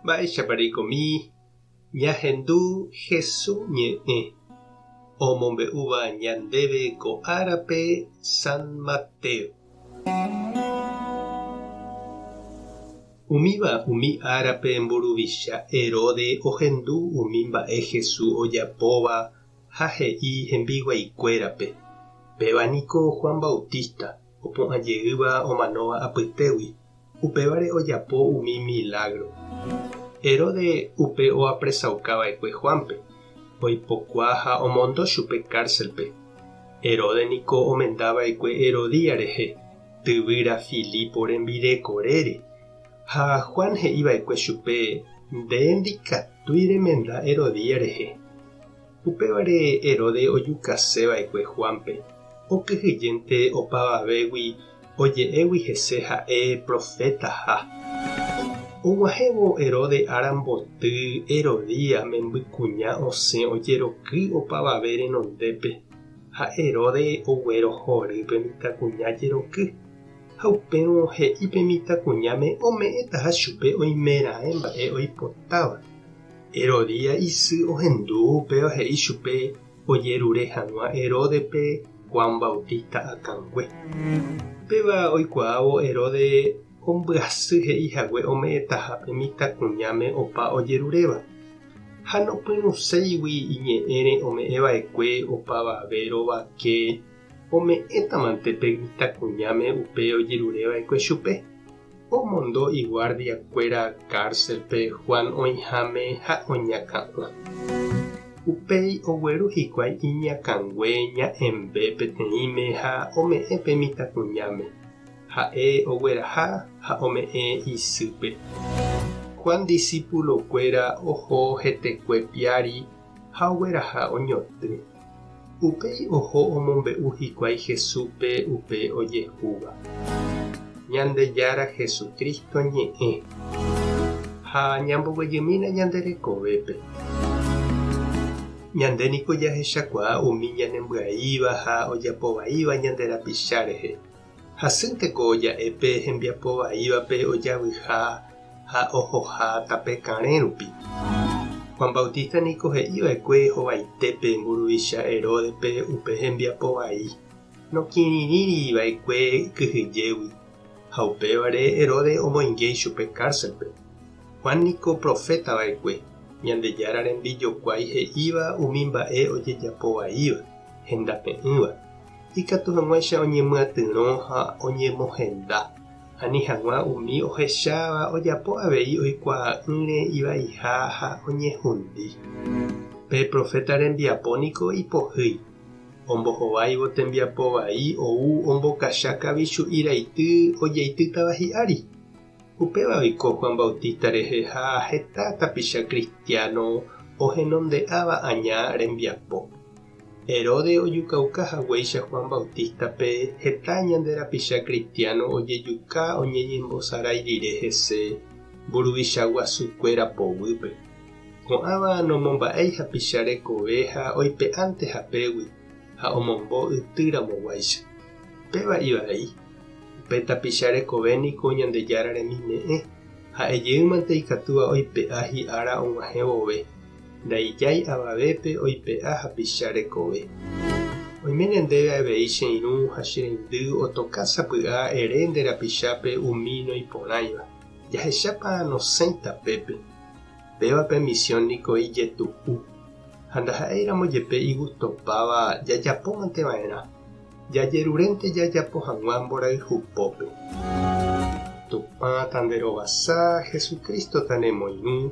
Mba'éichapa reikomi ñahendu Jesús ñe'ẽ omombe'úva ñandéve ko árape San Mateo? Umíva umi árape mburuvicha Herode ohendu umi mba'e Jesús ojapóva ha he'i hembiguaikuérape, Péva niko Juan Bautista opu'ã jeýva omanóva apytégui. Upévare ojapo umi milágro. Herodes upe oapresauka va'ekue Juánpe, oipokuaa ha omondo chupe kárselpe. Herodes niko omenda va'ekue Herodías rehe, tyvýra Filipo rembireko rére. Ha Juan he'i va'ekue chupe, Nde ndikatúi remenda Herodías rehe. Upévare Herodes ojukase va'ekue Juánpe, okyhyjénte opavavégui oje'égui hese ha'e profétaha. Og̃uahẽvo Herodes ára mboty, Herodías membykuña osẽ ojeroky opavave renondépe, ha Herodes oguerohory pe mitãkuña jeroky, ha upérõ he'i pe mitãkuñáme ome'ẽtaha chupe oimeraẽ mba'e oipotáva. Herodía isy ohendu upéva he'i chupe ojerure hag̃ua Heródepe Juan Bautista akãngue. Upéva oikuaávo Heróde ombyasy he'i hague ome'ẽtaha pe mitãkuñáme opa ojeruréva, ha nopyrũséigui iñe'ẽre ome'ẽva'ekue opavave rovake ome'ẽtamante pe mitãkuñáme upe ojerureva'ekue chupe. Omondo iguardiakuéra kárselpe Juan oĩháme ha oñakã'o. Upéi ogueru hikuái iñakãngue ña'ẽmbe peteĩme ha ome'ẽ pe mitãkuñáme. Ha'e ogueraha ha ome'ẽ isýpe. Juan disípulokuéra oho hetekue piári ha ogueraha oñotỹ. Upéi oho omombe'u hikuái Jesúspe upe ojehúva, Ñandejára Jesucristo ñe'ẽ, ha ñamboguejymína ñande rekovépe. Ñande niko jahechakuaa umi ñanembyaiva ha ojapovaíva ñande rapicha rehe. Hasýnte ko ja'e pe hembiapo vaívape ojavyiha ha ohoha tape karẽ rupi. Juan Bautista niko he'i va'ekue hovaite pe mburuvicha Heródepe upe hembiapo vai, nokirirĩri va'ekue kyhyjégui, ha upévare Herodes omoinge ichupe kárselpe. Juan niko proféta va'ekue, Ñandejára rembijokuái he'íva umi mba'e ojejapo vaíva, hendape'ỹva. Ikatu hag̃uáicha oñemyatyrõ ha oñemohenda, ani hag̃ua umi ohecháva ojapo avei oikuaa'ỹre ivaiha ha oñehundi. Pe proféta rembiapo niko ipohýi, ombohováivo tembiapo vai ou ombokacha kavichu'i raity ojeitýtava hi'ári. Upéva oiko Juan Bautista rehe ha heta tapicha kristiáno ohenonde'áva aña rembiapo. Herodes ojukauka haguéicha Juan Bautista-pe, heta ñande rapicha kristiáno ojejuka oñeñembosarái rire hese mburuvicha guasukuéra poguýpe. Ko'ãva nomomba'éi hapicha rekove ha oipe'ánte hapégui ha omombo yty ramoguáicha. Péva ivai, upe tapicha rekove niko Ñandejára remime'ẽ, ha'e jeýmante ikatúva oipe'a hi'ára og̃uahẽ vove. Ndaijái avavépe oipe'a hapicha rekove. Oiméne ndéve avei che irũ ha che reindy otoka sapy'a ere nde rapichápe umi noĩporãiva. Jahechápa nosẽita pépe. Péva pe misiõ niko ijetu'u. Ha ndaha'éiramo jepe igustopáva jajapómante va'erã. Jajerurénte jajapo hag̃ua mborayhu pópe. Tupã ta nde rovasa, Jesucristo ta ne moirũ.